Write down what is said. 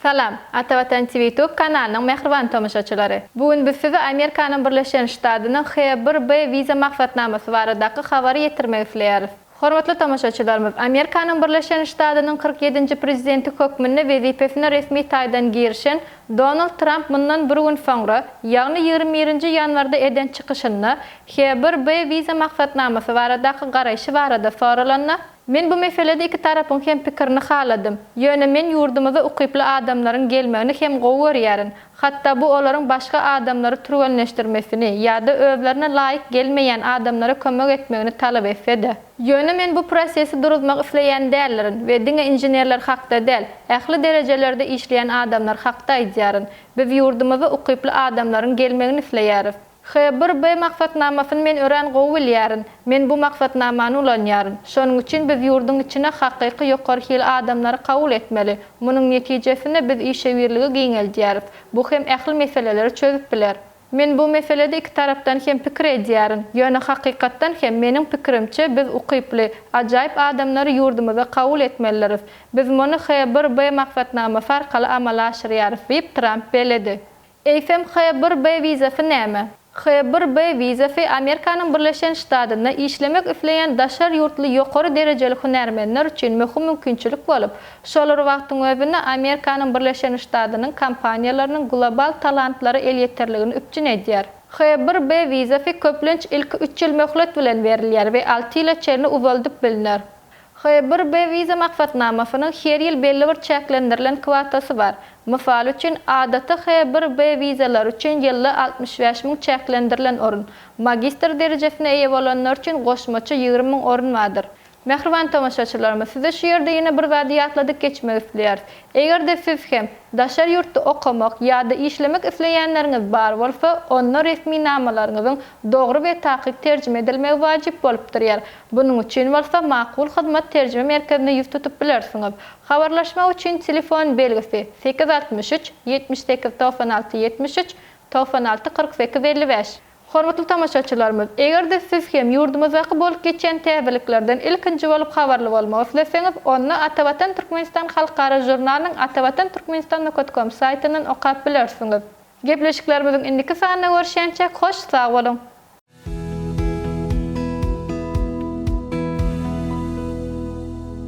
Salam, Ata Watan TV Ýutub kanalynyň mähriban tomaşaçylary! Bu gün biz size Amerikanyň Birleşen Ştadynyň H-1B wiza maksatnamasy baradaky habary ýetirmek isleýäris. Hormatly tomaşaçylarymyz, Amerikanyň Birleşen Ştadynyň kyrk ýedinji Prezidenti hökmünde wezipesine resmi taýdan girişen Donald Tramp mundan bir gün soňra, ýagny ýigrimi birinji ýanwarda eden çykyşynda HBRB wiza maksatnamasy baradaky garaýşy barada soralanda, Men bu meselede iki tarapyň hem pikirini haladym, ýöne men ýurdumyza ukyply adamlaryň gelmegini hem gowy görýärin, hatda bu olaryň başga adamlary türgenleşdirmesini ýa-da özlerine laýyk gelmeýän adamlara kömek etmegini talap etse-de. Ýöne men bu prosesi duruzmak isleýän däldirin we diňe inženerler hakda däl, ähli derejelerde işleýän adamlar hakda aýdýaryn. Biz ýurdumyza ukyply adamlaryň gelmegini isleýäris. H bir B maksatnamasyny men örän gowy bilýärin. Men bu maksatnamany ulanýaryn. Şonuň üçin biz ýurduň içine hakyky ýokary hil adamlary kabul etmeli. Munuň netijesinde biz işewürligi giňeldýäris. Bu hem ähli meseleleri çözüp biler. Men bu meselede iki tarapdan hem pikir edýärin. Ýöne hakykatdan hem, meniň pikirimçe, biz ukyply, ajaýyp adamlary ýurdumyza kabul etmelidiris. Biz muny H-bir-B maksatnamasy arkaly amala aşyrýarys, diýip, Tramp belledi. Eýsem, H-bir-B wizasy näme? H-bir-B wizasy Amerikanyň Birleşen Ştadynda işlemek isleýän daşary ýurtly ýokary derejeli hünärmenler üçin möhüm mümkinçilik bolup, Şol bir wagtyň özünde Amerikanyň Birleşen Ştadynyň kompaniýalarynyň global talantlara elýeterligini üpjün edýär. H-bir B wizasy köplenç ilki üç ýyl möhlet bilen berilýär we alty ýyla çenli uzaldyp bilner. H-bir B wiza maksatnamasynyň her ýyl belli bir çäklendirilen kwotasy bar. Mysal üçin, adaty H-bir B wizalary üçin ýylda altmyş bäş müň çäklendirilen orun, magistr derejesine eýe bolanlar üçin goşmaça ýigrimi müň orun bardyr. Mähriban tomaşaçylarymyz, size şu ýerde ýene bir zady ýatladyp geçmek isleýäris. Eger-de siz hem daşary ýurtda okamak ýa-da işlemek isleýänleriňiz bar bolsa, onda resminamalaryňyzyň dogry we takyk terjime edilmegi wajyp bolup durýar. Bunuň üçin bolsa Makul Hyzmat terjime merkezine ýüz tutup bilersiňiz. Habarlaşmak üçin telefon belgisi, sekiz altmyş üç, ýetmiş sekiz togsan alty ýetmiş üç, togsan alty kyrk sekiz elli bäş. Hormatly tomaşaçylarymyz, eger-de siz hem ýurdumyzdaky bolup geçýän täzeliklerden ilkinji bolup habarly bolmak isleseňiz, onda Atavatan Türkmenistan halkara žurnalynyň Atavatan Türkmenistan nokat kom saýtyndan okap bilersiňiz. Gepleşiklerimiziň indiki sanynda görüşýänçäk, hoş sag boluň!